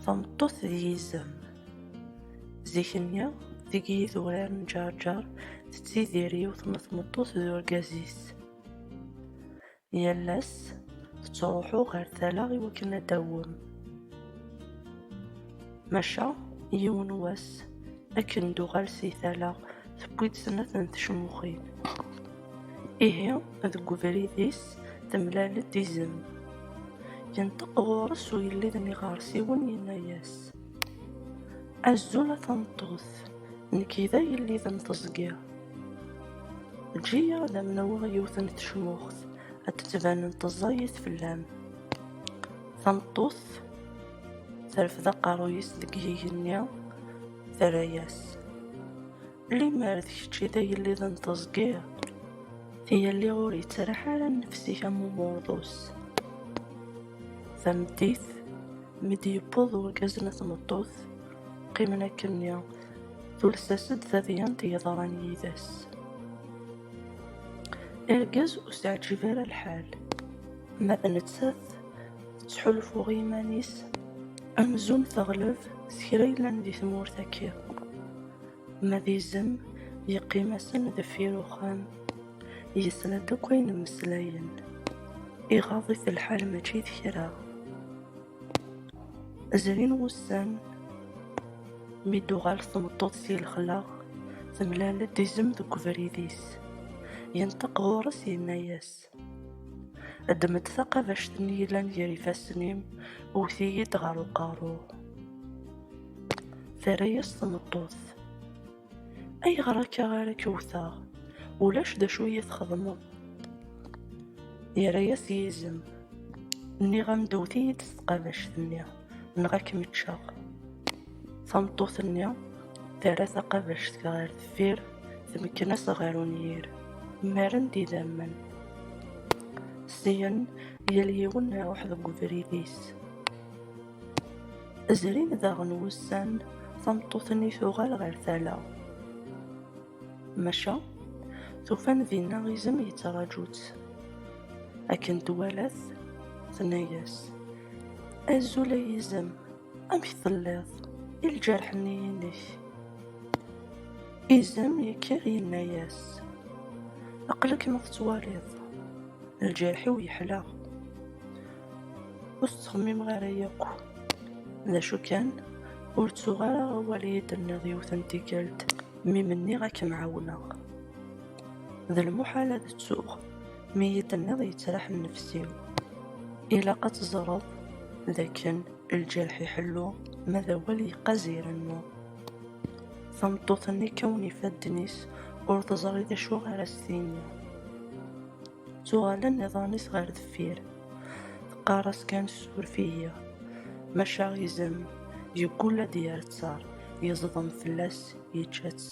Tameṭṭut d yizem. Zik-nni, deg yidurar n Ǧerǧer, tettidir yiwet n tmeṭṭut d urgaz-is. Yal ass, tettruḥu ɣer tala i wakken ad d-tawwem. Maca, yiwen n wass, akken d-tuɣal si tala, tewwi-d snat n tecmuxin. Ihi, deg ubrid-is, temlal-d izem. Yenṭeq ɣur-s ugellid n yiɣersiwen, yenna-yas, Azul a tameṭṭut, nekk i d agellid n teẓgi. Eǧǧ-iyi ad am-naweɣ yiwet n tecmuxt, ad d-tbanent ẓẓayit fell-am. Tameṭṭut terfed aqerruy-is deg yigenni, terra-yas. Limmer d kečč i d agellid n teẓgi, yelli ur yettraḥ ara nnefs-ik am uburḍus. Tameddit, mi d-yewweḍ urgaz n tmeṭṭut, qqimen akkenni, tules-as-d tadyant yeḍran yid-s. Argaz ur s-ɛǧib ara lḥal, ma d nettat tettḥulfu i yiman-is amzun teɣleb s kra yellan di tmurt-agi. Ma d izem, yeqqim-asen deffir uxxam, yesla-d akk ayen mmeslayen, iɣaḍ-it lḥal mačči d kra. Zrin wussan, mi d-tuɣal tmeṭṭut si lexla, temlal-d izem deg ubrid-is. Yenṭeq ɣur-s yenna-yas, Ddem-d taqabact-nni yellan gar ifassen-im, wwet-iyi-d ɣer uqerru. Terra-yas tmeṭṭut. Ayɣer akka ara k-wwteɣ? Ulac d acu iyi txedmeḍ. Yerra-yas yizem. Nniɣ-am-d wwet-iyi-d s tqabact-nni. neɣ ad kem-ččeɣ. Tameṭṭut-nni terra taqabact ɣer deffir, tmekken-as ɣer unyir, mmaren-d idammen. Syen, yal yiwen iruḥ deg ubrid-is. Zrin daɣen wussan, tameṭṭut-nni tuɣal ɣer tala. Maca, tufan dinna izem yettraǧu-tt. Akken twala-t, tenna-yas, Azul ay izem, amek telliḍ? I lǧerḥ-nni-inek? Izem yekker yenna-yas, Aql-ak ma tettwaliḍ, lǧerḥ-iw yeḥla. Ur tettxemmimeɣ ara yakk. D acu kan, ur ttuɣ ara awal i yi-d-tenniḍ yiwet n tikkelt. Mi menniɣ ad kem-ɛawneɣ D lmuḥal ad ttuɣ Mi yi-tenniḍ yettraḥ nnefs-iw Ilaq ad teẓreḍ d akken Lǧerḥ iḥellu ma d awal yeqqaz irennu Tameṭṭut-nni kkawen ifadden-is Ur teẓri d acu ara s-tini Ttuɣalen iḍan-is ɣer deffir Teqqar-as kan suref-iyi, maca izem yeggul ad d-yerr ttar, yeẓḍem fell-as yečča-tt.